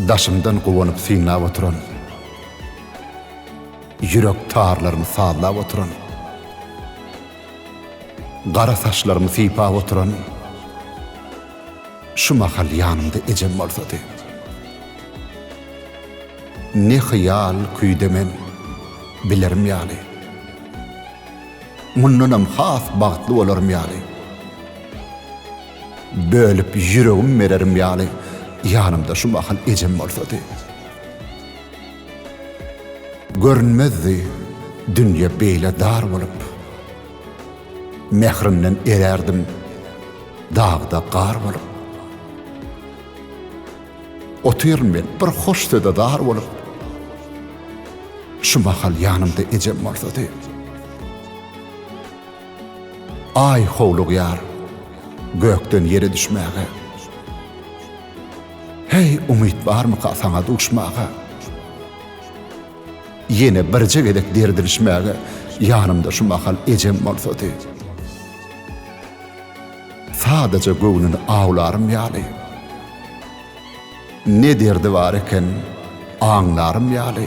Daşymdan guwanyp synlap oturan, Ýürek tarlarymy sazlap oturan, Gara saçlarymy sypap oturan, Şu mahal ýanymda ejem bolsady. Ne hyýal küýde men, bilerim ýaly, Mundanam has bagtly bolarym ýaly. Bölüp ýüregim bererim ýaly, ýanymda şu mahal ejem bolsady. Görünmezdi dünýe beýle dar bolup. Mährinden erärdim dagda gar bolup. Otyryn men bir hoş söze zar bolup. Şu mahal ýanymda ejem bolsady. Aý howlugýar gökden ýere düşmäge. Heý, umyt barmyka saňa duşmaga? Ýene birje gezek dirdilişmäge ýanymda şu mahal ejem bolsady. Sadaja göwnüni awlarym ýaly. Ne derdi bar eken, aňlarym ýaly.